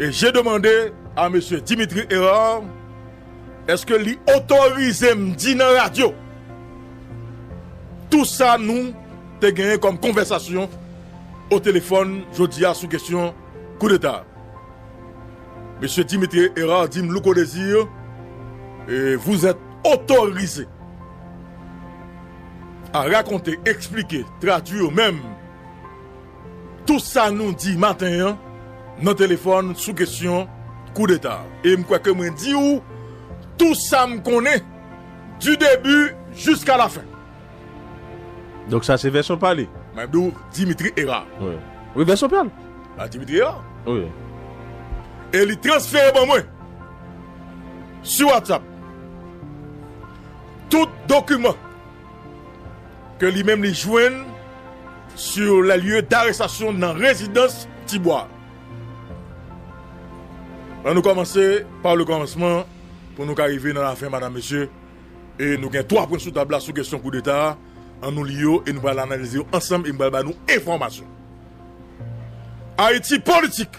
E je demande a Mesye Dimitri Herard eske li otorize m di nan radyo tou sa nou te genyen kòm konvèsasyon o telefòn jodi a sou kesyon koudeta a. Mesye Dimitri Herard di m Louko Desir vous êtes autorisé à raconter, expliquer, traduire menm. Tout sa nou di maten an nan telefòn sou kesyon koudeta a. E m kwè ke mwen di ou tout sa m konnen du début jusqu'à la fin. Donk sa se vèsyon pa li? Mwen di ou Dimitri Hérard. Wi. Wi vèsyon pa l. A Dimitri Hérard. Wi. E li transfere ban mwen sou WhatsApp tout dokiman. ke li menm li jwenn sur les lieux d'arrestation nan rezidans Tibwa. An nou kòmanse pa le kòmansman pou nou ka rive nan lafen madam mesye e nou gen 3 pwen sou tab la sou kesyon koudeta a, an nou li yo e nou pral analize yo ansanm e m pral ba nou enfòmasyon. Ayiti politik,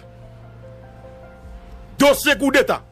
dosye koudeta.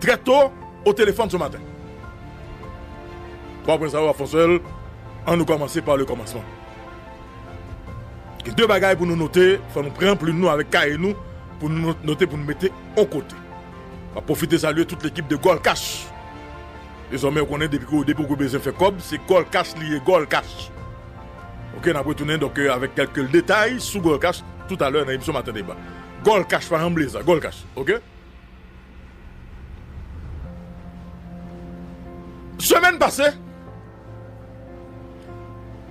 Très tôt au téléphone ce matin. 3 pwen sa yo ap fon sèl, an nou kòmanse pa le kòmansman. Gen 2 bagay pou nou note, fò nou pran plim nou avèk kaye nou pou nou note pou nou mete on kote. M ap pwofite salye tout lekip de Gold Cash. Dezòmè ou konnen depi ke depi ou gen bezwen fè kòb se Gold Cash li ye, Gold Cash. Ok, n ap retounen donk avèk kèlke detay sou Gold Cash toutalè nan emisyon Maten Deba. Gold Cash pa janm bliye sa, Gold Cash, ok. Semèn pase,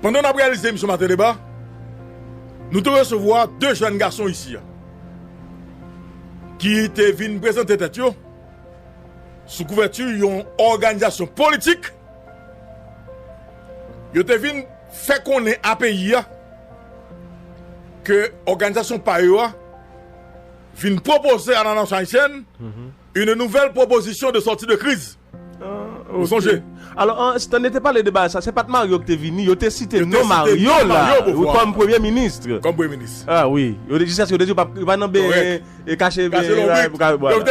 pandan n ap reyalize emisyon Maten Deba, nou te resevwa 2 jèn gason isi a ki te vin prezante tèt yo sou kouvèti yon òganizasyon politik. Yo te vin fè konnen a peyi a ke òganizasyon pa yo a, vin pwopoze a la nasyon ayisyèn une nouvelle proposition de sortie de crise. Ou sonje? Alò, Stanley te pale de bagay sa, se pa t Mario ki te vini, yo te site non Mario la kòm premye minis. Kòm premye minis. A wi, yo te jiskaske yo te di yo pa pran nan benyen e kache lonbrit. Yo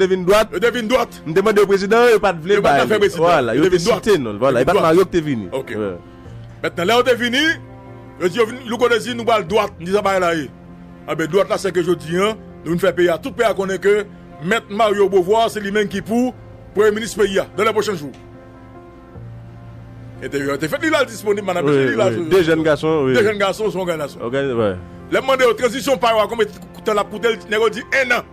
te vin dwat. Yo te vin dwat. M te mande yo prezidan an, yo pa t vle bay li. Vwala, yo te site non l. E pa t Mario ki te vini. Ok. Mèt nan lè yo te vini, yo di yo vin, Louko te di nou pral dwat, m di sa bagay la ye. Anben dwat la seke jodi an nou vin fè peyi a tout peyi a konnen ke mèt Mario Beauvoir se li menm ki pou premye minis peyi a dan lè pwochen jou. Entèvyou a te fèt li la li disponib madam mesye li la. De jèn gason wi. De jèn gason son òganason. Lèm mande yo tranzisyon pa yo a konbyen tan lap koute nèg yo di 1 an.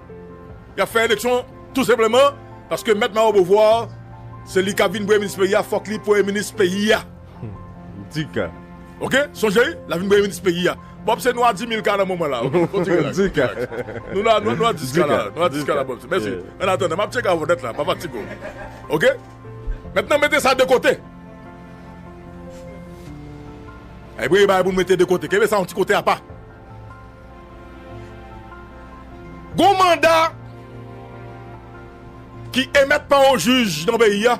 Yap fè eleksyon tou senpleman paske mèt Mario Beauvoir se li kap vin premye minis peyi a fòk li premye minis peyi a. Di ka. Ok sonje wi la vin premye minis peyi a Bob se nwa dimil ka nan moman la ok kontinye la ok relax nou nan nwa dis ka la nwa dis ka la Bob se mèsi an atandan map tcheke avèw nèt la pa fatige w ok mètnan mete sa de kote a gen bagay pou nou mete de kote kenbe sa yon ti kote apa gon manda ki emèt pa yon jij nan peyi a.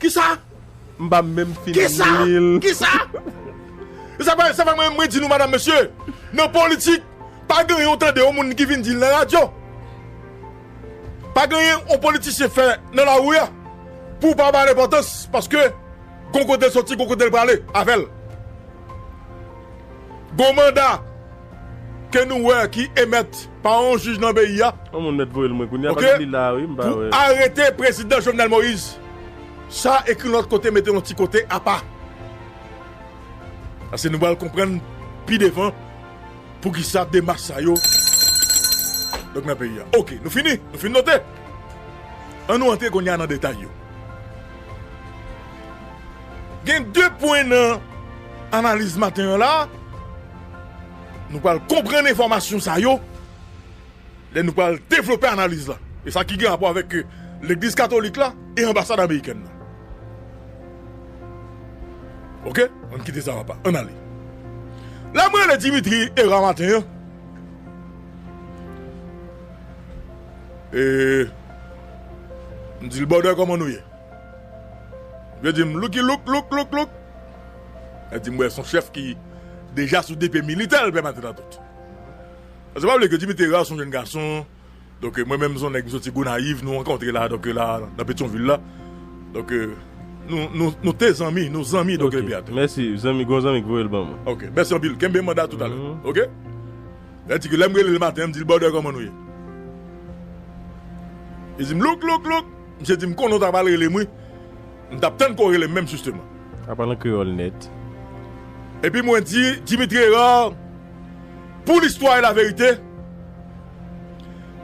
Kisa? M pa menm fin li l. Kisa? Kisa? Se pa mwen menm mwen di nou madam mesye, nan politik pa gen yon tande yon moun ki vin di l nan radyo. Pa gen yon politisyen fè nan lari a pou w pa ba l enpòtans paske gon kote l soti, gon kote l prale avè l. Gon manda. ke nou wè ki emèt pa yon jij nan peyi a, ok, pou arete prezidan Jovenel Moïse, sa ekri lòt kote mete yon ti kote apa. Paske nou pral konprann pi devan poukisa demach sa yo donk nan peyi a. Ok, nou fini? Nou fin note? An nou antre kounye a nan detay yo. Gen de pwen nan analiz maten an la. Nou pral konprann enfòmasyon sa yo lè nou pral devlope analiz la e sa ki gen rapò avèk legliz katolik la e anbasad amerikèn nan. Ok, ann kite sa apa, ann ale. Lè m rele Dimitri Herard maten an, e m di l, Bòdè kòman nou ye? Li di m, Lucky Luke, Luke, Luke, Luke. Yo di m wè son chèf ki deja sou depe militè l pè maten antout. Sa pa vle ke Jimmy Terrar son jenn gason, donk mwen menm son nèg m soti Gonayiv nou rankontre la donk la nan Petyonvil la. Donk nou nou te zanmi, nou zanmi donk epi atè. Mèsi zanmi gon zanmi k voye l ban mwen. Ok mèsi anpil kenbe manda toutalè ok. Yo di ke lè m rele l maten an m di l brother kòman nou ye? Li di m louk louk louk, misye di m konnen w ta pral rele m wi. M tap tann ke w rele m menm jisteman. A pale an kreyòl nèt. Epi mwen di Dimitri Herard pou listwa e laverite,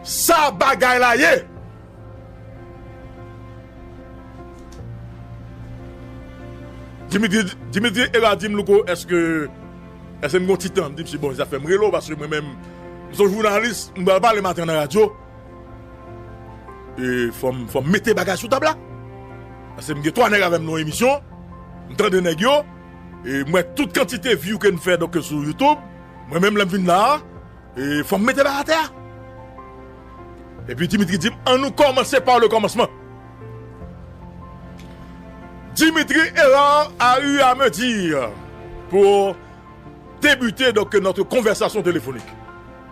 sa bagay la ye! Dimitri Herard di m, Louko, èske m gen yon ti tan? M di misye, bon, zafè m rele w paske mwen menm m se yon jounalis, m pral pale maten an nan radyo. E fòm fòm mete bagay sou tab la Pase m gen 3 nèg avèm nan yon emisyon M tande nèg yo E m wè tout kantite view ke n fè donk sou youtube Mwen menm lè m vin la a E fòm mete bagay atè a Epi Dimitri di m an nou kòmanse par le commencement Dimitri Herard a eu a me dire Pou debute donk notre conversation téléphonique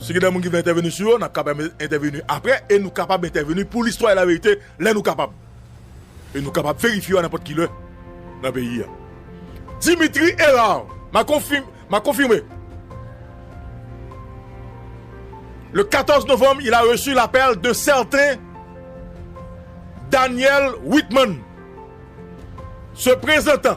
Si gen de moun ki vle entèveni sou yo, n ap kapab entèveni apre e nou kapab entèveni pou listwa e laverite lè nou kapab. E nou kapab verifye yo a nenpòt ki lè nan peyi a. Dimitri Herard, M'a confirmé. Le 14 novembre, il a reçu l'appel d'un certain Daniel Whitman se prezentan.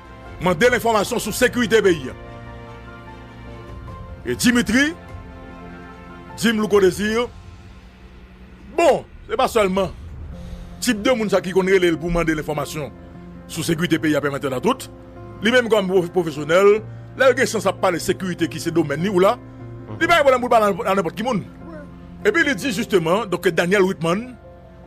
Mande l enfòmasyon sou sekirite peyi a. E Dimitri di m Louko Desir bon se pa sèlman tip de moun sa ki konn rele l pou mande l enfòmasyon sou sekirite peyi a pèmèt an a tout. Li menm kòm pwofesyonèl lè l gen chans ap pale sekirite ki se domèn li ou la li pa gen pwoblèm pou l pale a nenpòt ki moun. Epi li di jisteman donk ke Daniel Witmann.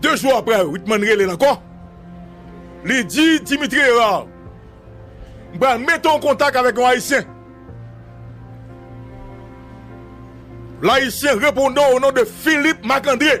De jou aprè, Whitman rele l ankò. Li di, Dimitri Herard, m pral mete w an kontak avèk yon Ayisyen. Layisyen repondan w o non de Philippe Marc-André.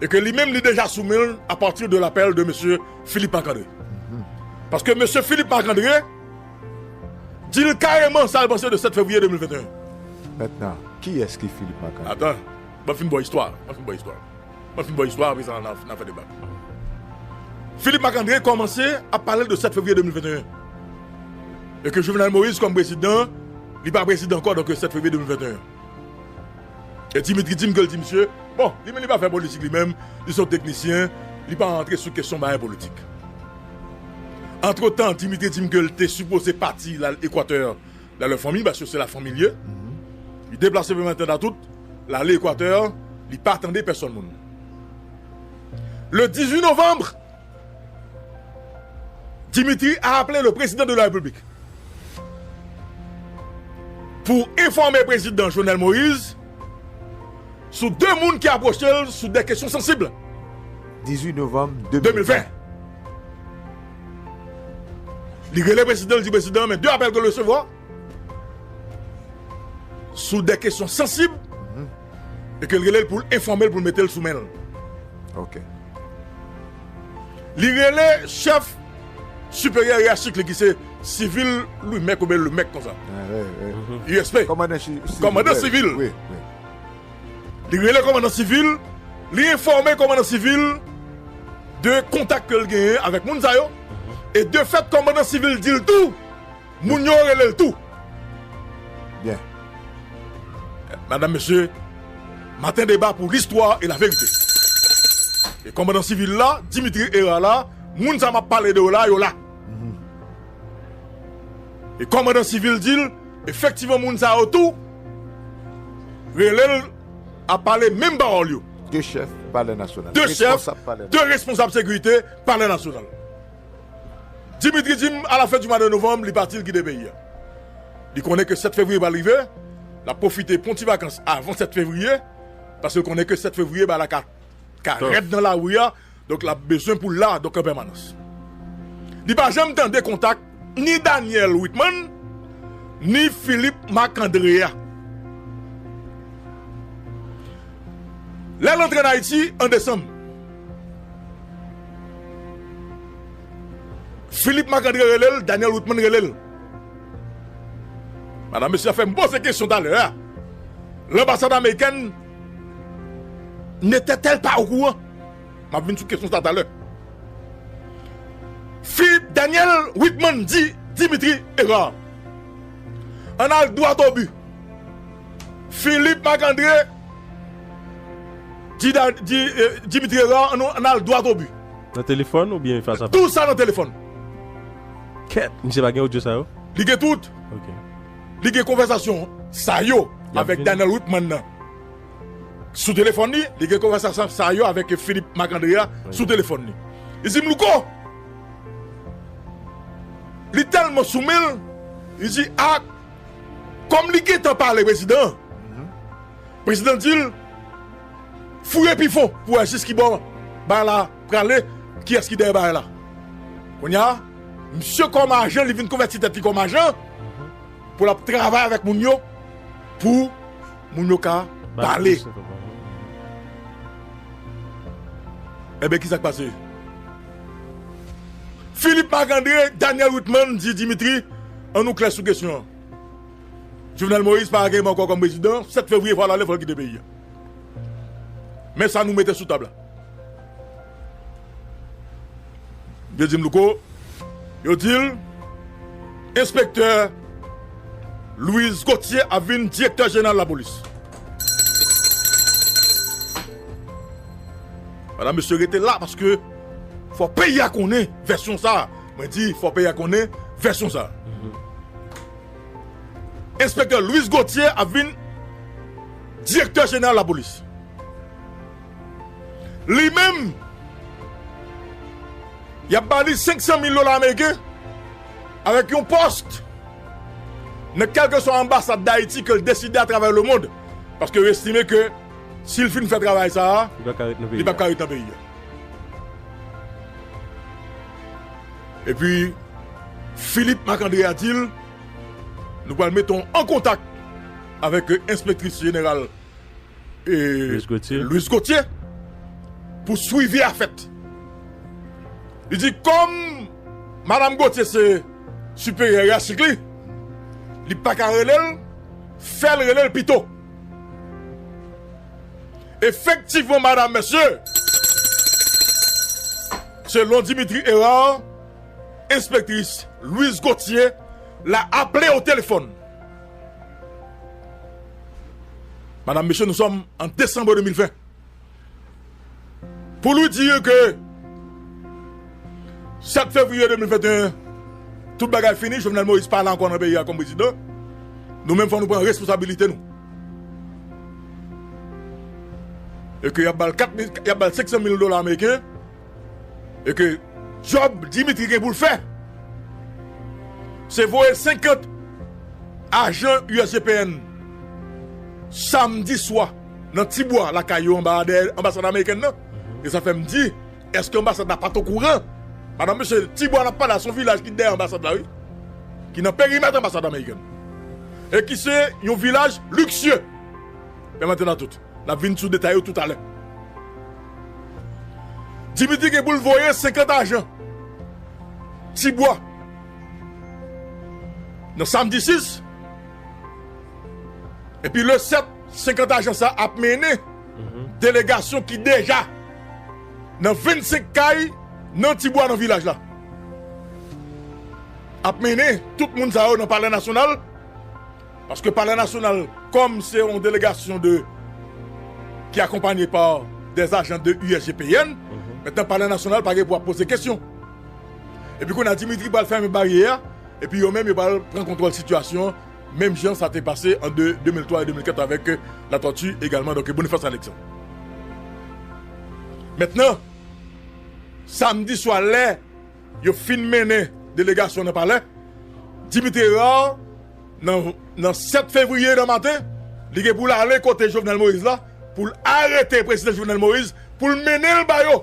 e ke li menm li deja sou men l a pati de lapèl de mesye Philippe Marc André paske mesye Philippe Marc André di l kareman sa l panse de 7 fevriye 2021 Mètnan, kiyès ki Philippe Marc André? Atan, mwen fin ba w istwa a, mwen fin ba w istwa a mwen fin ba w istwa a apre sa na fè deba Philippe Marc André kòmanse ap pale de 7 fevriye 2021 e ke Jovenel Moïse kòm prezidan li pa prezidan ankò donk 7 fevriye 2021. E Dimitri dim ke l di misye, bon, li menm li pa fè politik li menm, li son teknisyen, li pa antre sou kesyon bagay politik. Antretan, Dimitri dim ke l te sipoze pati l al Ekwatè, l al wè fanmi l, paske se la fanmi l ye. Li deplase vin Matière Datoute, l ale Ekwatè, li pa tande pèsòn moun. Le 18 novanm, Dimitri a aple le prezidan de la repiblik pou enfòme prezidan Jovenel Moïse sou 2 moun ki apwoche l sou 2 kesyon sansib. 18 novanm 2020, li rele prezidan l di prezidan men 2 apèl ke l resevwa sou 2 kesyon sansib. E ke l rele l pou l enfòme l pou l mete l sou men l. Ok. Li rele chèf siperyè yachik li ki se sivil Louimèk oubyen Lemèk konsa. USP. Kòmandan sivil. Kòmandan sivil. Wi, wi. Li rele kòmandan sivil, li enfòme kòmandan sivil de kontak ke l genyen avèk moun sa yo e de fèt kòmandan sivil di l tou. Moun yo rele l tou. Byen. Madam, mesye, maten deba pou listwa e laverite. E kòmandan sivil la, Dimitri Herard la, moun sa m ap pale de yo la, yo la. E kòmandan sivil di l, efektivman moun sa yo tou rele l ap pale menm pawòl yo. De chèf palè nasyonal. De chèf, de responsab sekirite palè nasyonal. Dimitri di m a la fen di mwa de novanm li pati li kite peyi a. Li konnen ke 7 fevriye pral rive, l ap pwofite pran ti vakans avan 7 fevriye paske l konnen ke 7 fevriye bagay la ka rèd nan lari a donk l ap bezwen pou l la donk an pèmanans. Li pa janm tande kontak ni Daniel Witman ni Philippe Marc André a. Lè l antre an Ayiti an desanm. Philippe Marc André rele l Daniel Ruthman rele l Madam mesye a fè m poze kesyon talè a Lanbasad amerikèn Nete tel pa okouran M ap vin sou kesyon sa talè Philippe Daniel Ruthman di Dimitri Herard An n al dwat obi Philippe Marc André Di di Dimitri Herard an nou al dwat o bi. Nan telefòn ou byen fas a fas? Tout sa nan telefòn. Kèt! Misye pa gen odyo sa yo? Li gen tout. Ok. Li gen konvèsasyon sa yo avèk Donald Whitman nan sou telefòn li, li gen konvèsasyon sa yo avèk Philippe Marc André a sou telefòn li. Li di m, Louko, li tèlman sou men l, li di ak. Kòm li gentan pale prezidan an, prezidan di l, Fouye pi fon pou w wè jiskibò bagay la prale, kiyès ki dèyè bagay la. Kounye a, misye kòm ajan, li vin konvèti tèt li kòm ajan pou l ap travay avèk moun yo pou moun yo ka pale. Enben, ki sa k pase? Philippe Marc André Daniel Witmann di Dimitri an nou klè sou kesyon an Jovenel Moïse pa ageyman ankò kòm prezidan 7 fevriye fòl ale fòl kite peyi an men sa nou mete sou tab la yo di m Louko yo di l enspektè Louis Gauthier ap vin direktè jeneral lapolis. Madam mesye rete la paske fò peyi a konnen vèsyon sa a. Mwen di fò peyi a konnen vèsyon sa a. Enspektè Louis Gauthier ap vin direktè jeneral lapolis. Li menm y ap ba li 500 mil dola ameriken avèk yon pòst nan kèlkeswa anbasad Dayiti ke l deside atravè lemond paske yo estime ke Si l fin fè travay sa a, li pap ka ret nan peyi a. Epi, Filip Makandre a di l, Nou pral mete w an kontak avèk enspektris jeneral Louis Gauthier pou swivi a fèt. Li di, Kòm Madam Gauthier se siperyè yachik li, li pa ka rele l, fè l rele l pito. Efektivman madam mesye, selon Dimitri Herard, enspektris Louise Gauthier la aple o telefòn. Madam mesye nou sòm an desanbre 2020. Pou nou di yo ke 7 fevriye 2021 tout bagay fini, Jovenel Moïse pa la ankò nan peyi a kòm prezidan, nou menm fò nou pran responsabilite nou. E ke y ap ba l 500 mil dola ameriken. e ke djòb Dimitri gen pou l fè se voye 50 ajan usgpn samdi swa nan ti bwa lakay yo anba dèyè anbasad amerikèn nan e sa fè m di èske anbasad la pa t okouran madanm mesye ti bwa n ap pale a se yon vilaj ki dèyè anbasad la wi ki nan perimèt anbasad amerikèn e ki se yon vilaj liksye pèmèt m di nou tout. N ap vin sou detay yo toutalè. Dimitri gen pou l voye 50 ajan Tibwa nan samdi 6 epi le 7 50 ajan sa ap mennen delegasyon ki deja nan 25 kay nan Tibwa nan vilaj la ap mennen tout moun sa yo nan palè nasyonal Paske palè nasyonal kòm se yon delegasyon de ki akonpanye pa dè ajan de USGPN mètnan palè nasyonal pa gen pou ap poze kesyon epi kounye a Dimitri pral fèmen baryè a epi yo menm yo pral pran kontwòl sitiyasyon an menm jan sa te pase an 2003 e 2004 avèk Latòti egalman donk Bonifas Aleksann mètnan samdi swa lè yo fin mennen delegasyon nan palè Dimitri Herard. nan nan 7 fevriye nan maten li gen pou l ale kote Jovenel Moïse la pou l arete prezidan Jovenel Moïse pou l mennen l ba yo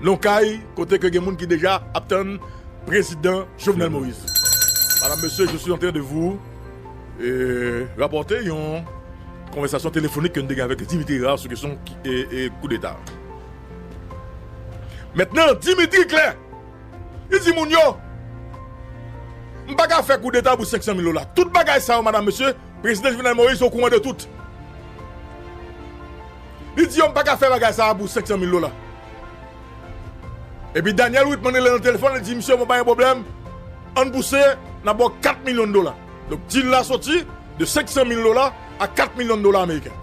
nan kay kote ke gen moun ki deja ap tann prezidan Jovenel Moïse Madame, Monsieur, je suis en train de vous rapporter yon konvèsasyon telefonik ke nou te gen avèk Dimitri Herard sou kesyon koudeta Mèt nan Dimitri klè! Li di moun yo, M pa ka fè koudeta pou 500 mil dola. Tout bagay sa yo, madan mesye, Prezidan Jovenel Moïse okouran de tout. Li di yo, M pa ka fè bagay sa a pou 500 mil dola. Epi Daniel Whitman rele nan telefòn, li di, Msye, bon pa gen pwoblèm, ann pouse, n ap ba w 4 milyon dola. Donk dil la soti de 500 mil dola a 4 milyon dola ameriken.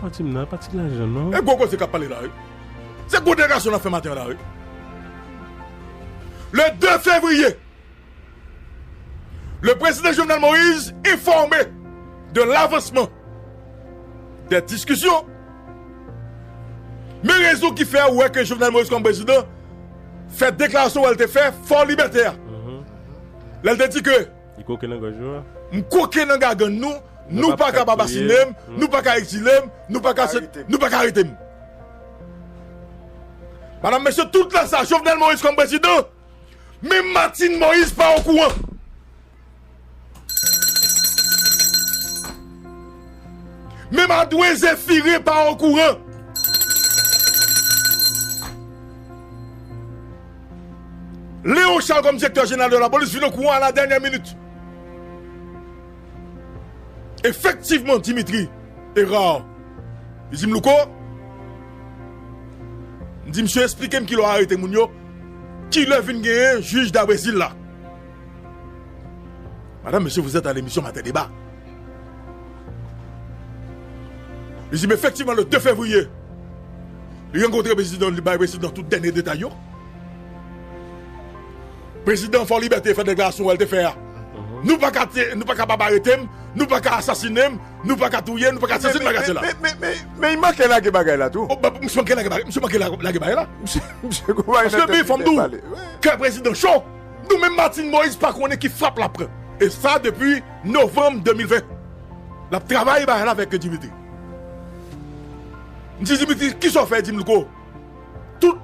Pati m nan, pati lajan non. E gwo koze k ap pale la wi. Se gwo deklarasyon nap fè maten an la wi. Le 2 fevriye, le prezidan Jovenel Moise enfòme de lavansman de diskisyon. Men rezon ki fè ou wè ke Jovenel Moise kòm prezidan fè deklarasyon wè l te fè Fort Liberté a. Lè l te di ke. Li koke nan gòj yo. M koke nan gagann nou. Nou pa kapab asine m, nou pa ka ekzile m, nou pa ka arete m. Madam, mesye, tout la sa Jovenel Moïse kòm prezidan, menm Martine Moïse pa okouran. Menm Adwen Zéphiré pa okouran. Léon Charles kòm direktè jeneral de lapolis vin okouran a la dènyè minit. Efektivman Dimitri Hérard li di m, Louko, m di msye esplike m kilè w arete moun yo, kilè vin genyen jij da Brezil la. Madame, Mesye, vous êtes à l'émission Matin Débat. Li di m efektivman le 2 fevriye li rankontre prezidan li bay prezidan tout dènye detay yo. Prezidan Fò Libète fè deklarasyon wè l te fè a, Nou pa ka nou pa kapab arete m, nou pa ka asasine m, nou pa ka touye m, nou pa ka sezi m bagay sila. Men y manke lage bagay la tou. Misye manke lage bagay, misye manke lage bagay la. Misye gou bagay nan tèt li te pale. Paske men fò m di w, kè prezidan cho, nou menm Martine Moïse pa konnen ki frap l ap pran. E sa depi. Novembre 2020 lap travay bagay la vek Dimitri mdi Dimitri kisa ou fè dim lko tout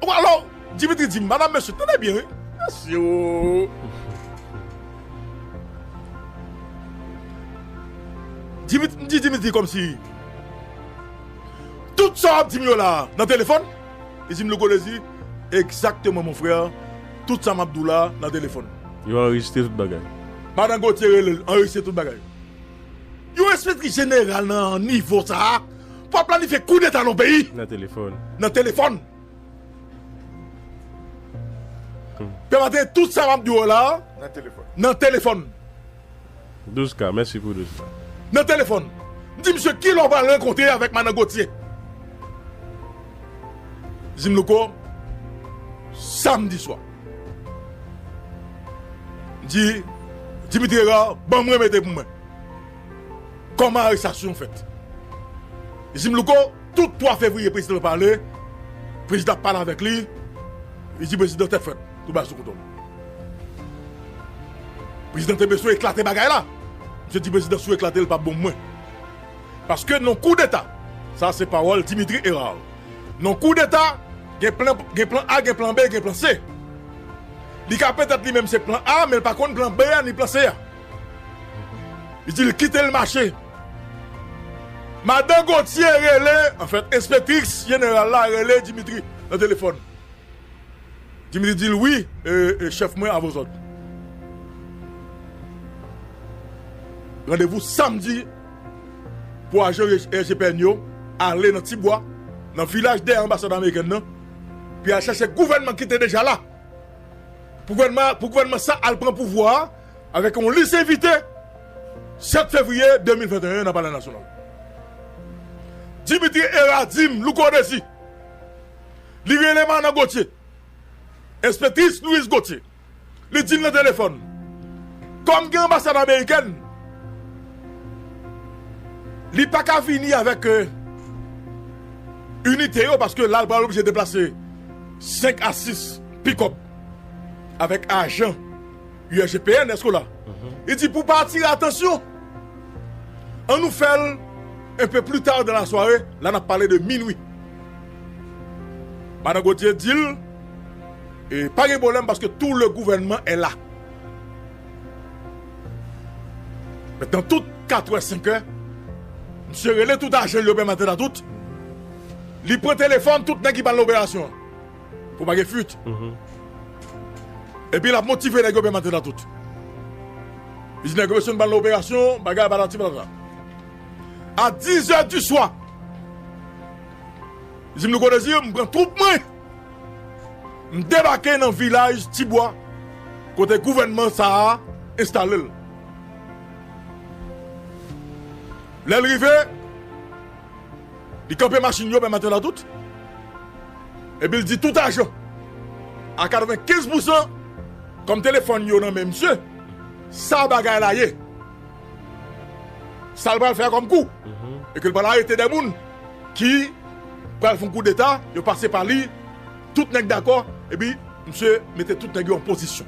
ou alò Dimitri dim madam mesye tande byen wi mesye oo Dimitri mdi Dimitri komsi tout sa wap dim yo la nan telefòn li dim lko li di exactement mon frère. Tout sa map diw la nan telefon. Yo anrejistre tout bagay. Madan Gauthier relel anrejistre tout bagay. Yon enspektri jeneral nan nivo sa a pou ap planifye koudeta nan yon peyi. Nan telefon. Nan telefon. Pè maten tout sa map diw la. Nan telefon. Nan telefon. 12 k mèsi pou 12 k. Nan telefon. M di misye kilè w pral rankontre avèk madan Gauthier. Li di m Louco samdi swa. M di Dimitri Herard banm remete pou mwen kòman arestasyon fèt. Li di m Louco tout 3 fevrier prezidan pale, prezidan ap pale avèk li, li di prezidan tèt frèt tout bagay sou kontwòl. Prezidan te beswen eklate bagay la. Misye di prezidan si w eklate l pa bon pou mwen. Paske nan koudeta, sa se pawòl Dimitri Herard, nan koudeta gen plan gen plan A gen plan B gen plan C. Li ka petèt li menm se plan A men l pa konn plan B a ni plan C a. Li di l kite l mache. Madan Gauthier rele, anfèt enspektriks jeneral la rele Dimitri nan telefòn. Dimitri di l, Wi, chèf mwen avè w sot. Randevou samdi pou ajan IGPN yo ale nan Tibwa, nan vilaj dèyè anbasad amerikèn nan, pou y al chèche gouvènman ki te deja la, pou gouvènman sa al pran pouvwa a avèk yon lis envite 7 fevriye 2021 nan Palè Nasyonal. Dimitri e Radim Louko Dezi. Li rele Manan Gotye, enspektris Louise Gotye, li di l nan telefòn, kòm gen anbasad amerikèn, li pa ka vini avèk inite yo paske la l pral oblije deplase 5 a 6 pikòp avèk ajan. USGPN, èske w la? Li di pou pa atire atansyon, an nou fè l enpe pli ta dan lasware, la n ap pale de minui. Madan Gotye di l, e pa gen pwoblèm paske tou le gouvènman è la. Mèt nan tout katwè senkè, msye rele tout ajan l yo pèmante nan tout, li pran telefòn tout nèg ki pral nan operasyon an. pou pa gen fuit. Epi lap motive nèg yo menm antretan tout. Li di nèg yo mesye nou pral nan operasyon, bagay patati patata. A 10 zè di swa, li di m Louko Dezi m pran twoup mwen, m debake nan vilaj ti bwa kote gouvènman sa a enstale l. Lè l rive. Li kanpe machin yo menm atè la tout. Epi l di tout ajan a 95 pousan kòm telefòn yo nan men misye, sa bagay la ye. Sa l pral fè kòm kou. E ke l pral arete 2 moun ki pral fon koudeta, yo pase pa li, tout nèg dakò, epi misye mete tout nèg yo an pozisyon.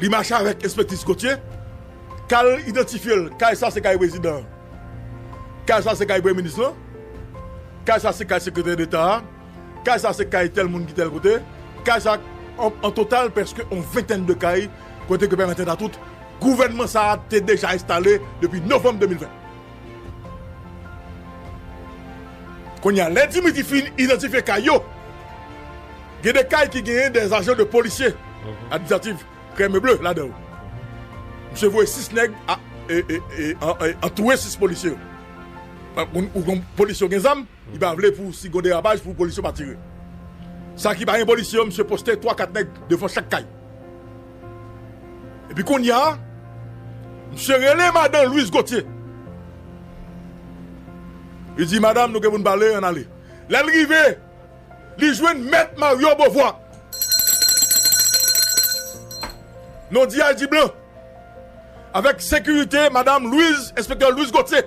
Li mache avèk enspektis Gauthier kal idantifye l kay sa se kay prezidan an kay sa se kay premye minis lan kay sa se kay sekretè deta a kay sa se kay tèl moun ki tèl kote kay sa an total prèske on ventèn de kay kote ke pèmèt entatout gouvènman sa a te deja enstale depi novanm 2020. Kounye a, lè Dimitri fin idantifye kay yo, gen 2 kay ki genyen 2 ajan de polisye administratif krèm e ble ladan yo. Misye voye 6 nèg antouye 6 polisye yo. Ou konn polisye yo gen zam, li pa vle pou si gon derapaj pou polisye yo pa tire. Sa ki pa gen polisye yo, misye poste 3, 4 nèg devan chak kay. Epi kounya misye rele madan Louis Gauthier. Li di madam nou gen pou nou pale ann ale. Lè l rive li jwenn mèt Mario Beauvoir. Non di a l di blan. Avèk sekirite madam Louis enspektè Louis Gauthier.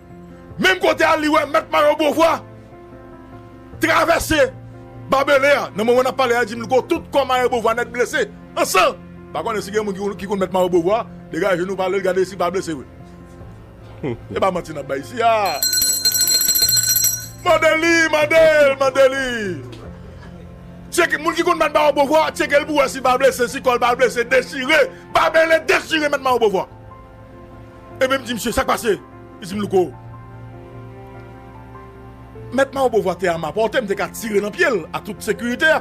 Menm kote a li wè Mèt Mayo Bovwa travèse babele a. Nan moman n ap pale a, di m li ko tout kò Mayo Bovwa nèt blese an san. Pa konnen si gen moun ki konn Mèt Mayo Bovwa, degaje nou pale l gade si l pa blese vre. E pa manti n ap bay isi a. Mande li, mande l, mande li. Tyeke, moun ki konn Mèt Mayo Bovwa, tyeke l pou wè si l pa blese, si kò l pa blese, dechire, babele dechire Mèt Mayo Bovwa. Epi m di misye, sa k pase? Li di m, Louko, Mèt Mao Bovwa te a ma pòte, m te ka tire nan pye l ak tout sekirite a.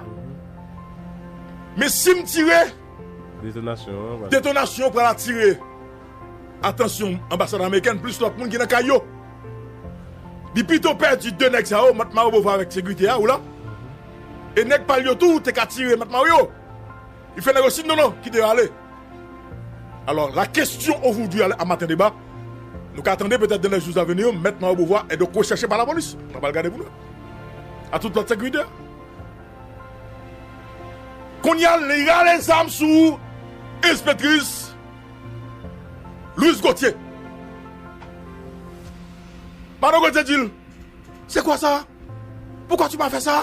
Men si m tire, detonasyon an pral atire atansyon anbasad amerikèn plis lòt moun ki nan kay yo. Li pito pèdi de nèg sa yo, Mèt Mao Bovwa avèk sekirite a, ou la, e nèg pa l yo tou te ka tire Mèt Mao yo. Li fè nèg yo si non non kite yo ale. Alò la kestyon ovoudwi a maten deba nou ka tande petèt dan lè jou zaveni yo mèt Mayo Bovwa e donk recheche pa lapolis. Nap al gade pou nou wè. A tout lòt sekirite. Kounye a li rale zam sou enspetris Louise Gauthier. Madon Gauthier di l, se kwa sa? Poukwa tu ma fè sa?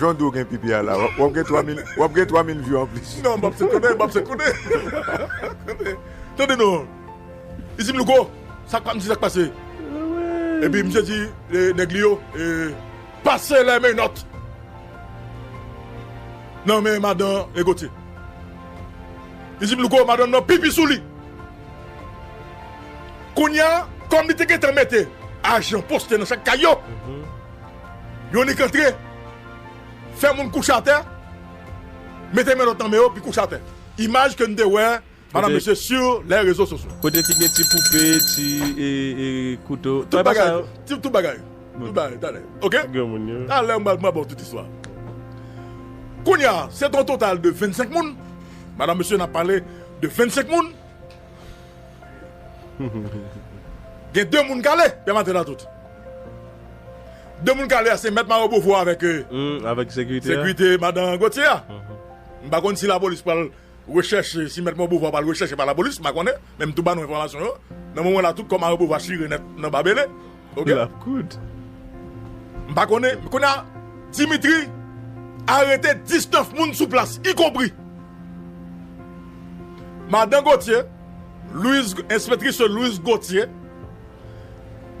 Jan dou gen pipi a la wap gen 3 mil wap gen 3 mil view anplis. Non bab se konnen bab se konnen konnen tande non li dim louko sak pa m di sak pase epi misye di nèg li yo pase lè menòt nan men madan e gotye li dim louko madanm nan pipi sou li kounya kòm li te gentan mete ajan poste nan chak kay yo. Yon nik antre, fè moun kouche atè, mete men lòt nan men yo, pi kouche atè. Imaj ke n te wè, madan mesye, su lè rezo sosyo. Kote ki gen ti poupe, ti kouto. Tout bagay. Tout bagay. Tout bagay. Talè. Ok? Talè m pral ba w tout istwa a. Kounye a, se te yon total de 25 moun. Madan mesye, n ap pale de 25 moun. Gen 2 moun kale yap mate la tout. 2 moun kale a se mèt Maro Beauvoir avèk sekirite madan Gauthier a. M pa konn si lapolis pral rechèche si mèt Maro Beauvoir pral rechèche pa lapolis m pa konnen men m tou ba nou enfòmasyon yo nan moman la tout kò Maro Beauvoir chire nèt nan babele. Ok. Lap kout. M pa konnen, kounye a Dimitri arete 19 moun sou plas, ikonpri Madan Gauthier, Louise, enspetris sè Louise Gauthier,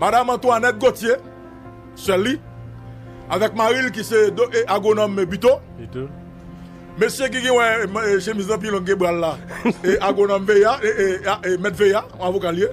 Madam Antoinette Gauthier, sè l li, avèk mari l ki se do e agwonòm Buteau. Buteau. Mesye ki gen wè e chemiz lan pi long ke bra l la e agwonòm Veillant e e e mèt Veillant, avoka l ye.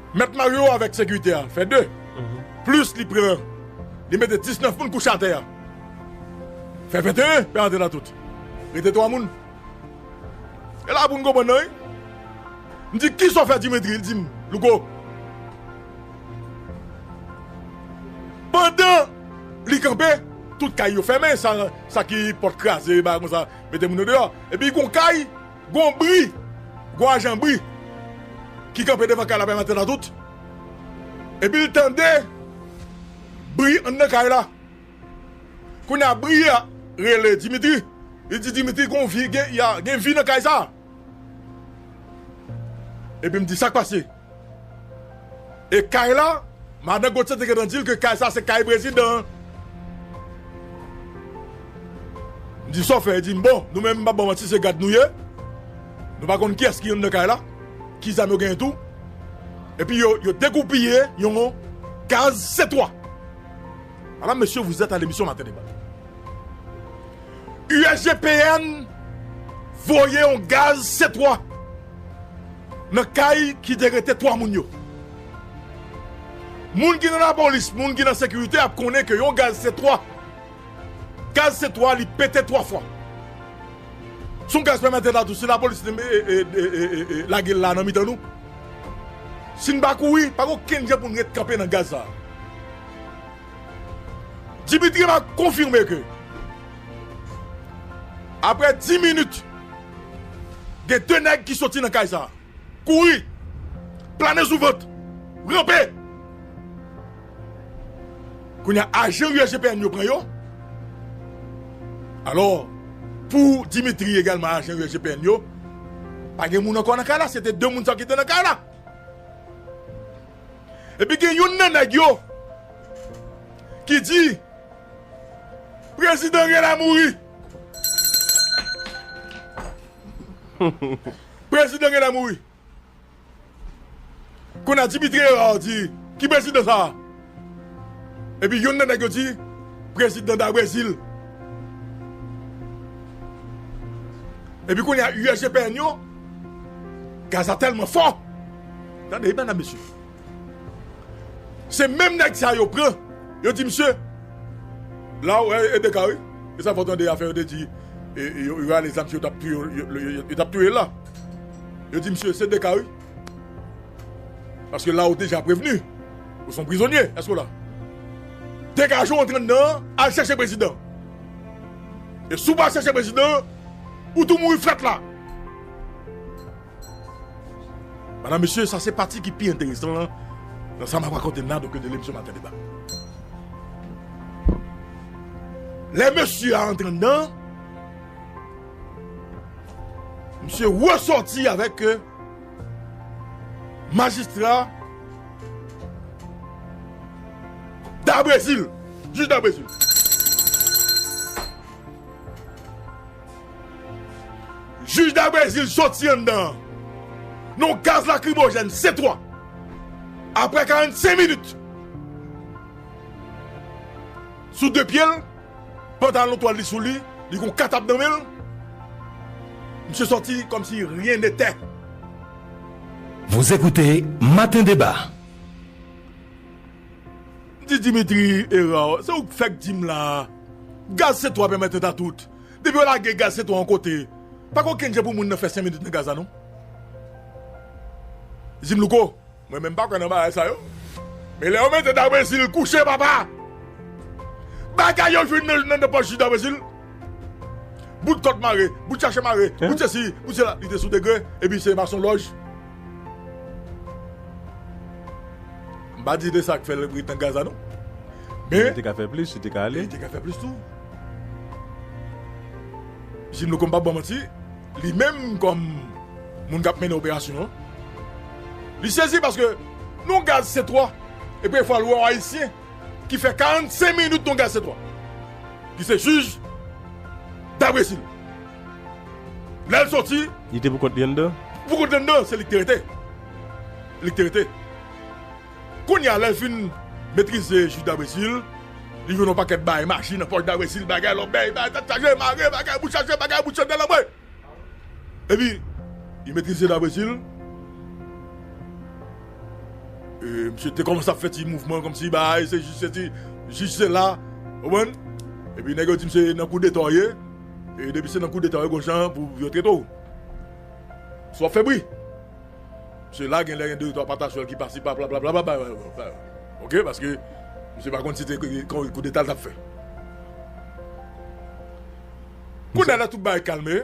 Mèt Mario avèk sekirite a fè 2, plis li pran li mete 19 moun kouche atè a fè 21, pè antre nan tout, rete 3 moun. E la pou n konprann nan wi. M di kisa w fè Dimitri, li di m Louko pandan li kanpe tout kay yo fèmen sa ki pòt kraze bagay konsa mete moun yo deyò epi gon kay Gon bri, gon ajan bri ki kanpe devan kay la bay maten atout epi l tande bri anndan kay la. Kounye a bri a rele Dimitri, li di Dimitri gon vi, gen vi nan kay sa a. Epi m di sa k pase? E kay la? Madan Gauthier te gentan di l ke kay sa se kay prezidan an. M di sa w fè? Li di m bon, nou menm m pa ba w manti se gad nou ye, nou pa konn kiyès ki anndan kay la, ki zam yo genyen tou. Epi yo degoupille yon kaz C3. Madame, Monsieur, vous êtes à l'émission Matin Débat. USGPN voye yon gaz C3. Nan kay ki te rete 3 moun yo. Moun ki nan lapolis, moun ki nan sekirite ap konnen ke yon gaz se 3. Gaz se 3, li pete 3 fwa. Se yon gaz pèmète la tou, si lapolis lage l la nan mitan nou, si n pa kouri, pa gen okenn jan pou n ret kanpe nan gaz sa a. Dimitri va konfime ke apre 10 minit gen 2 nèg ki soti nan kay sa kouri plane sou vant ranpe kounya ajan usgpn yo pran yo alò pou Dimitri egalman ajan usgpn yo pa gen moun ankò nan kay la se te 2 moun sa ki te nan kay la. Epi gen youn nan nèg yo ki di prezidan rèl a mouri. Prezidan rèl a mouri. Kounye a Dimitri Herard di ki prezidan sa a? Epi youn nan nèg yo di prezidan da Brezil. Epi kounye a USGPN yo gaz la tèlman fò. Tande bannan mesye. Se menm nèg sa yo pran, yo di misye, la ou wè EDK wi, e sa fè w tande afè yo te di yo rale zam si yo t ap touye yo, yo t ap touye l la. Yo di misye se EDK wi. Paske la ou deja prevni, ou son prizonye, èske w la? Degaje w antre anndan an, al chèche prezidan. E si w pa al chèche prezidan, ou tou mouri frèt la. Madam mesye sa se pati ki pi enteresan lan nan sa map rakonte la doke de lemisyon maten deba lè mesye a antre anndan misye resòti avèk majistra dabrezil jij dabrezil Jij da Brezil soti anndan yon gaz lakrimojèn C3 aprè 45 minit sou 2 pye l, pantalon twal li sou li, li gen yon katab nan men l, misye sòti kòm si ryen ne tè. Vous écoutez matin débat. M di Dimitri Herard, se ou k fèk di m la a, gaz se twa pèmèt eta tout. Depi yo lage gaz se twa yon kote, pa gen okenn jan pou moun nan fè 5 minit nan gaz la non. Jim Louko, mwen menm m pa kwè nan bagay sa yo. Men lè yo mete Da Brésil kouche papa! Bagay yo jwenn nan nan pòch Da Brésil, bout kòd mare, bout chache mare, bout sesi, bout sela, li te sou degre epi se masonlòj. M pa di se sa k fè l ret nan Gaza non. Men li te ka fè plis, li te ka ale. Li te ka fè plis tou. Jim Louko m pap ba w manti, li menm kòm moun k ap mennen operasyon an, li sezi paske nou gaz se twò. E pi fò l wè yon ayisyen ki fè 45 minit nan yon gaz se twò. Ki se jij Dabrezil. Lè l soti. Li te poukont li anndan? Poukont li anndan, se li k te rete. Li k te rete. Kounye a, lè l fin metrize jij Dabresil, li jwenn yon pakèt bagay, maji nan pòch Dabresil, bagay, lòbèy, bagay, tèt chaje, mare, bagay, bouch chaje, bagay, bout chandèl anmwe! Epi, li metrize Dabresil. E, misye te kòmanse ap fè ti mouvman kòmsi bagay se jij, se ti jij se la. Ou konprann? Epi nèg yo di misye nan kou detò ye. E depi se nan koudeta yo gon jan pou yo trete w. Si w ap fè bri. Se la genlè gen de twa pataswèl ki pasi pala blablabla ok paske misye pa konn si se koudeta l t ap fè. Kounye a lè tout bagay kalme.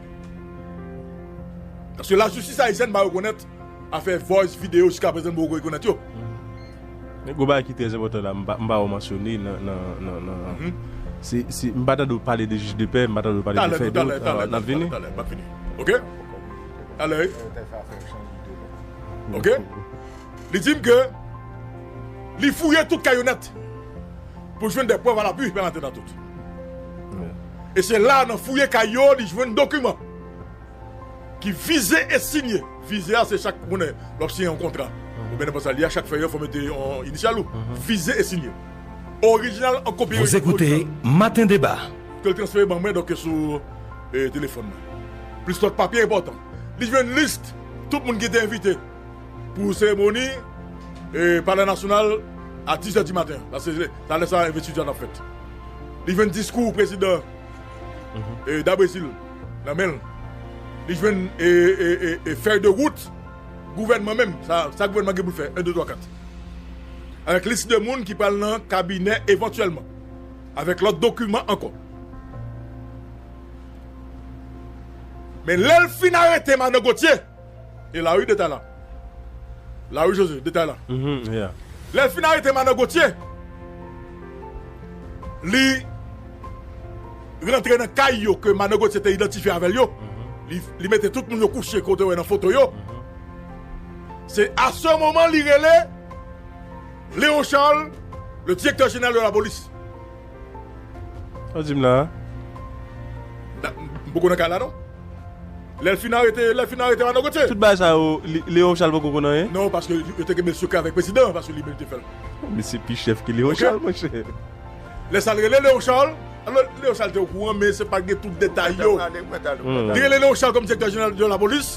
Paske la jistis ayisyèn pa rekonèt afè voice, video jiska prezan nou poko rekonèt yo. Men gwo bagay ki trè enpòtan la m pa wè w mansyone nan se m pa tande w pale de jij de pè, m pa tande w pale de fè dot alò n ap vini. Talè, talè, talè, talè, m ap vini ok talè wi ok li di m ke li fouye tout kay yo nèt. Pou l jwenn dè prèv alapui, Pè Maten Datout. E se la, nan fouye kay yo, li jwenn dokiman ki vize e sinye. Vize a, se chak, ou konnen, lè w ap siyen yon kontra oubyen nenpòt sa li a, chak fèy yo fò mete yon inisyal ou. Vize e sinye. Orijinal an kopi. Vous écoutez Matin Débat. Ke l transfere ban mwen, donk sou telefòn mwen. Plis lòt papye enpòtan. Li jwenn list tout moun ki te envite. Pou seremoni palè nasyonal a 10 zè di maten paske se ta lè sa envestiti a tap fèt. Li jwenn diskou prezidan Da Brezil nan men l. Li jwenn fèy de wout gouvènman menm sa gouvènman gen pou l fè 1 2 3 4 avèk lis de moun ki pral nan kabinè evantyèlman avèk lòt dokiman ankò. Men lè l fin arete madan Gauthier. E lari detay la. Lari Jose, detay la. Lè l fin arete madan Gotye, li rantre nan kay yo ke madan Gotye te idantifye avè l yo, li mete tout moun yo kouche ke w te wè nan foto yo. Se a se moman li rele Leon Charles, le direktè jeneral de la polis. Sa w di m la a? M poko nan kay la non. Lè l fin arete lè l fin arete Manno Gotye. Tout bagay sa yo Leon Charles poko konn anyen? Non paske yo te kenbe sekrè avèk prezidan an paske li menm ki te fè l. Misye pi chèf ke Leon Charles monchè. Lè sa l rele Leon Charles alò Leon Charles te okouran men se pa t gen tout detay yo. Li rele Leon Charles kòm direktè jeneral de lapolis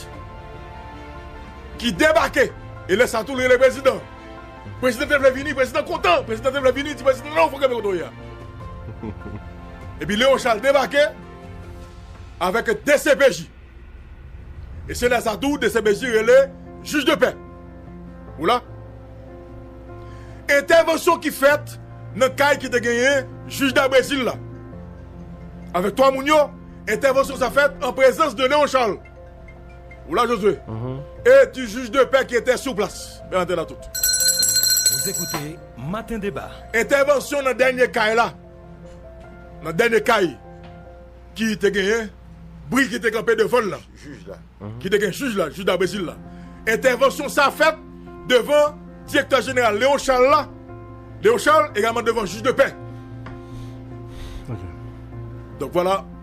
ki debake e lè sa tou li rele prezidan. Prezidan te vle vini, prezidan kontan, prezidan te vle vini, di prezidan non ou fòk kenbe kote w ye a. Epi Leon Charles debake avèk dcpj. E se lè sa tou dcpj rele jij de pè. Ou la? Entèvansyon ki fèt nan kay ki te genyen jij Dabrezil la avèk 3 moun yo, entèvansyon sa fèt an prezans de Leon Charles. Ou la Josue? E di jij de pè ki etè sou plas. Mwen antre nan tout. Ou zekoute maten deba. Entèvansyon nan dènye kay la. Nan dènye kay ki te genyen bri ki te kanpe devan l la. Jij la. Ki te gen jij la, jij Dabrezil la. Entèvansyon sa fèt devan direktè jeneral Leon Charles la. Leon Charles egalman devan jij de pè. Donk vwala.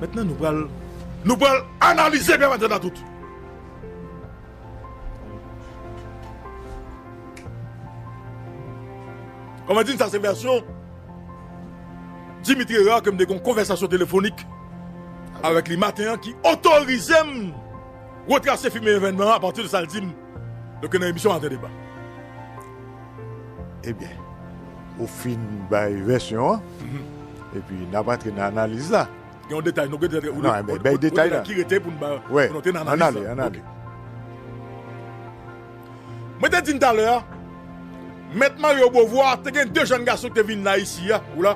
Mentnan nou pral. Nou pral analize Gran Maten Atout. Kòman di n sa se vèsyon Dimitri Herard ke m te gen yon konvèsasyon telefonik avèk li maten an ki otorize m retrase fimen evènman an apati de sa l di m. Doke nan emisyon Ate Deba. Ebyen, ou fin bay vèsyon an, epi n ap antre nan analiz la. Gen yon detay nou gentan te. Nan, men bay detay la. Ki rete pou n bay, pou n antre nan analiz la. Ann ale, ann ale. Mwen te di n talè a, Mèt Mario Beauvoir te gen de jèn gason ki te vin la isi a, ou la,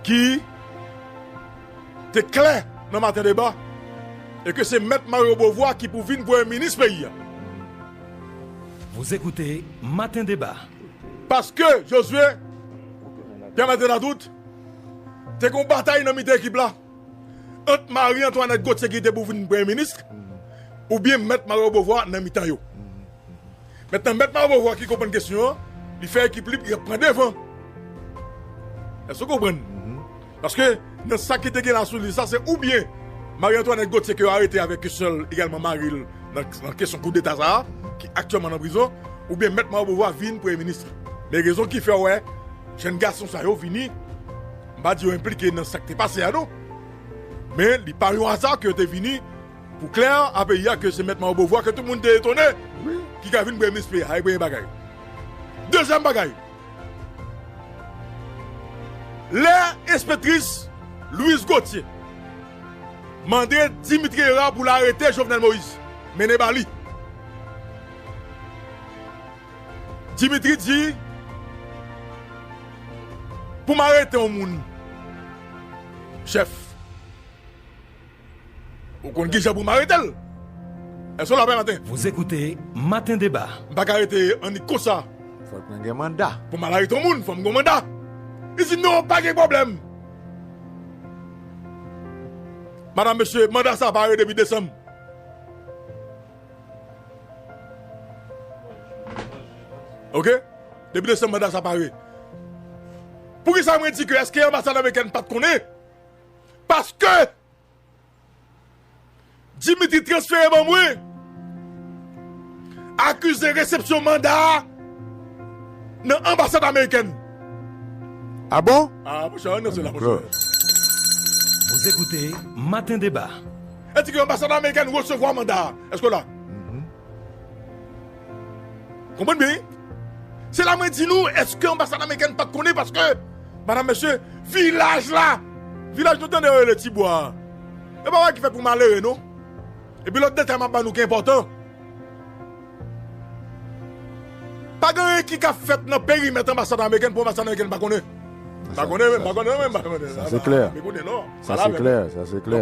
ki. te klè nan maten deba e ke se Mèt Mario Beauvoir ki pou vin Premye Minis peyi a. Vous écoutez matin débat. Paske Josué Pierre Latenadoute te gen yon batay nan mitan ekip la ant Marie Antoinette Gauthier ki te pou vin Premye Minis oubyen Mèt Mario Beauvoir nan mitan yo. Mentnan Mèt Marbovo a ki konprann kesyon an, li fè ekip li pou yap pran devan. Èske ou konprann? Paske nan sa ki te gen la sou lis la se oubyen Marie Antoinette Gauthier ke yo arete avèk ke sè l egalman mari l nan kesyon koudeta sa a ki aktyèlman nan prizon oubyen Mèt Marbovo a vin Premye Minis la. Men rezon ki fè ou wè jenn gason sa yo vini, m pa di yo enplike nan sa ki te pase a non, men li pa yon aza ke yo te vini Pou klè a peyi a ke se mèt Mao Bovwa ke tout moun te etone ki ka vin prèmis peyi a e premye bagay. Dezyèm bagay, lè enspektris Louise Gauthier mande Dimitri Herard pou l arete Jovenel Moïse mennen ba li, Dimitri di pou m arete yon moun chèf. Ou konn kijan pou m arete l? Èske w la Valentin? Vous écoutez Matin Débat. M pa ka rete annik konsa. Fòk mwen gen manda. Pou m al arete yon moun, fò m gen yon manda. Li di, non, pa gen pwoblèm. Madam, mesye, manda sa a pa arete depi desanm. Ok? Depi desanm manda sa a pa arete. Poukisa mwen di ke èske anbasad amerikèn pa t konnen? Paske Dimitri transfere ban mwen akize resepsyon manda a nan anbasad amerikèn. A bon? A mwen chè an nan sè la mwen chè. Dankr. Vous écoutez Matin Débat. Èske anbasad amerikèn resevwa manda a? Èske w la? Konprann byen wi. Se la mwen di nou eske anbasad amerikèn pat konnen paske madam mesye vilaj la vilaj nou tande yo rele ti bwa a e bagay ki fèt pou malere non epi lòt detay map ba nou ki enpòtan pa gen anyen ki ka fèt nan perimèt anbasad amerikèn pou anbasad amerikèn pa konnen m pa konnen m pa konnen m pa konnen sa se klè sa se klè sa se klè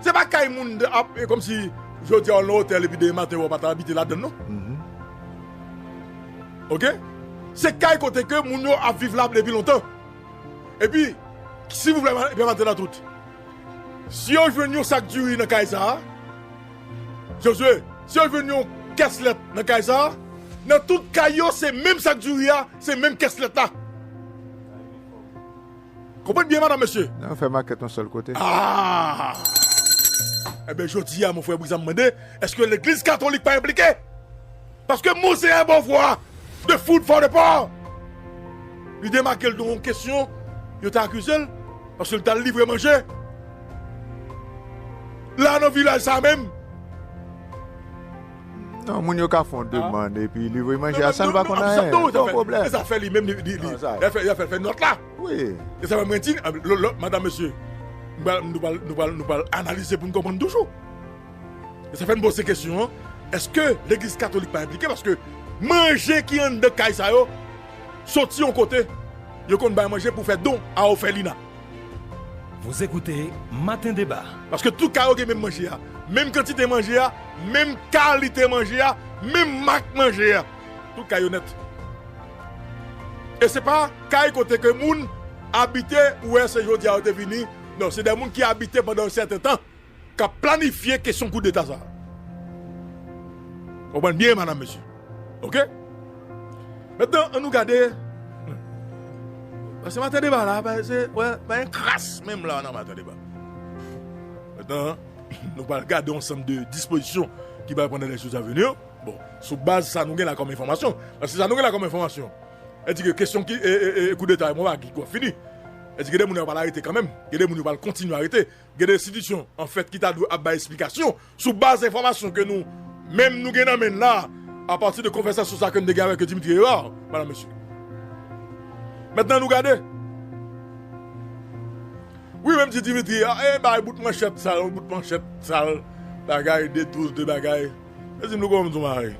Se pa kay moun ap e komsi jodi a ou nan otèl epi demen maten ou pa ta abite ladann non. Ok se kay kote ke moun yo ap viv la depi lontan. Epi silvouplè pè Matela tout si yo jwenn yon sak diri nan kay sa Josue si yo jwenn yon kès lèt nan kay sa nan tout kay yo se menm sak diri a se menm kès lèt la. Konprann byen madam mesye. Nan yo fè makèt yon sèl kote. Aah! Enben jodi a mon frè Brizan m mande eske legliz katolik pa enplike? Paske Monseyè Beauvoir de Food for the Poor li demake l de yon kesyon yo te akize l paske l t al livre manje la nan vilaj sa menm. Non, moun yo ka fè yon demand epi livre manje a san l pa konn anyen. Non, san pwoblèm. E sa fè li menm li, li fè l fè nòt la. Wi. E sa fè mwen di, madam mesye, nou pral, nou pral, nou pral analize pou n konprann toujou. E sa fè m poze kesyon an, èske legliz katolik pa enplike paske manje ki anndan kay sa yo soti yon kote, yo konn bay manje pou fè don a òfelina. Vous écoutez matin débat. Paske tout ka yo gen menm manje a, menm kantite manje a, menm kalite manje a, menm mak manje a. Tout kay yo nèt. E se pa kay kote ke moun abite ou wè se jodi a yo te vini, non se dè moun ki abite pandan yon sèten tan. k ap planifye kesyon koudeta sa a. Konprann byen madam mesye ok. Mentnan an nou gade paske maten deba la pa gen kras menm la nan maten deba. Mentnan nou pral gade yon ansanm de dispozisyon ki pral pran nan lè jou sa vini yo bon sou baz sa nou gen la kòm enfòmasyon paske sa nou gen la kòm enfòmasyon e di ke kesyon ki e koudeta yo pa gen kòm fini e di gen de moun yo pral arete kanmenm gen de moun yo pral kontinye arete Gen de enstitisyon, an fèt, ki ta dwe ap bay esplikasyon sou baz enfòmasyon ke nou menm nou gen nan men n la a, apati de konvèsasyon sa a ke n te gen avèk Dimitri Herard, madanm mesye. Mentnan nou gade. Wi, menm ti Dimitri a, e bay bout manchèt sal, bout manchèt sal, bagay, de touz, de bagay. Yo dim louko m di w bagay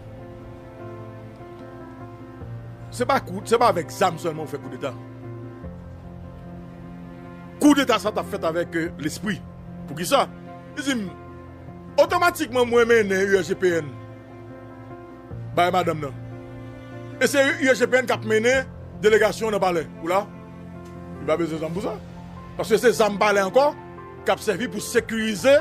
se pa kou se pa avèk zam sèlman ou fè koudeta koudeta sa tap fèt avèk lespri poukisa li dim otomatikman mwen mennen USGPN bay madanm nan e se USGPN kap mennen delegasyon nan palè ou la li pa bezwen zam pou sa paske se zam palè ankò kap sèvi pou sekirize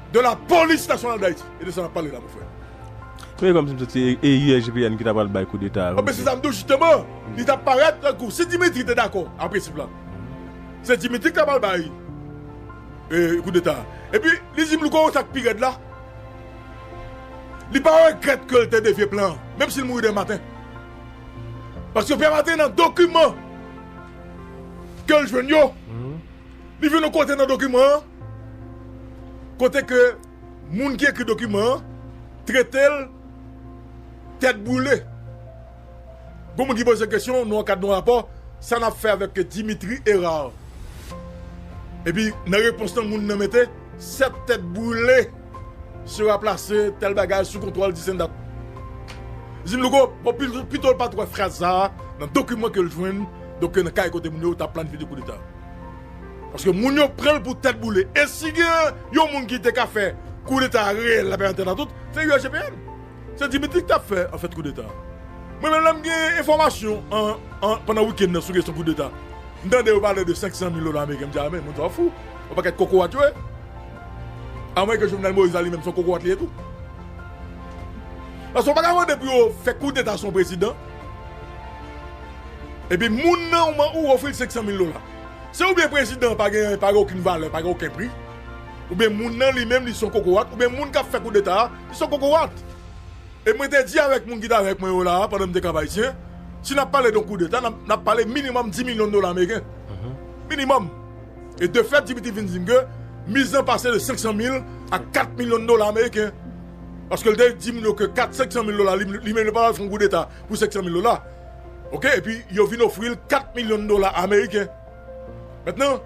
de la police nationale d'Haïti e de sa nap pale la mon frère. Mwen kòmsi m santi e USGPN ki ta pral bay koudeta a. Anben se sa m di w jisteman, li ta parèt tankou si Dimitri te dakò a prensip la, se Dimitri ki ta pral bay koudeta a. Epi li di m li konnen sa k pi rèd la, li pa regrèt ke l te devye plan an, menm si l mouri demen maten. Paske demen maten nan dokiman ke l jwenn yo, li vin yon kote nan dokiman an, kote ke moun ki ekri dokiman an trete l tèt boule. Gon moun ki poze kesyon nan kad yon rapò, sa n ap fè avèk Dimitri Herard? Epi nan repons lan moun nan mete, 7 tèt boule sera plase tèl bagay sou kontwòl Disendat. Jim Louko pito l pa t wè fraz sa a nan dokiman ke l jwenn nan kay kote moun yo ta planifye koudeta. Paske moun yo pranl pou tèt boule. E si gen yon moun ki te ka fè koudeta reyèl la pè antandan tout, se UAGPN. Se Dimitri ki tap fè an fèt koudeta a. Mwen menm lèm gen enfòmasyon an pandan wikenn nan sou kesyon koudeta, m tande yo pale de 500 mil dola ameriken m di a men moun sa yo fou. Yon pakèt kokorat yo ye. A mwen ke Jovenel Moïse la li menm son kokorat li ye tou. Paske ou pa ka mande pou yo fè koudeta sou yon prezidan. Epi moun nan ou man ou ofril 500 mil dola. Se oubyen prezidan pa gen pa gen okin valè, pa gen oken pri, oubyen moun nan li menm li son kokorat, oubyen moun kap fè koudeta a li son kokorat. E mwen te di avèk moun ki t avèk mwen yo la a pandan m te Kap Ayisyen, si nap pale don koudeta nap nap pale minimòm 10 milyon dola ameriken. Minimòm. E de fèt Dimitri vin di m ke miz lan pase de 500 mil a 4 milyon dola ameriken. Paske l te di moun yo ke 4, 500 mil dola li menm li pa pral fè yon koudeta pou 500 mil dola. ok epi yo vin ofri l 4 milyon dola ameriken mentnan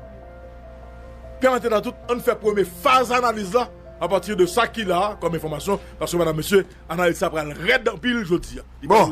Pè Antenatout ann fè premye faz analiz la apati de sa ki la kòm enfòmasyon paske madam mesye analiz sa pral rèd anpil jodi a. Bon!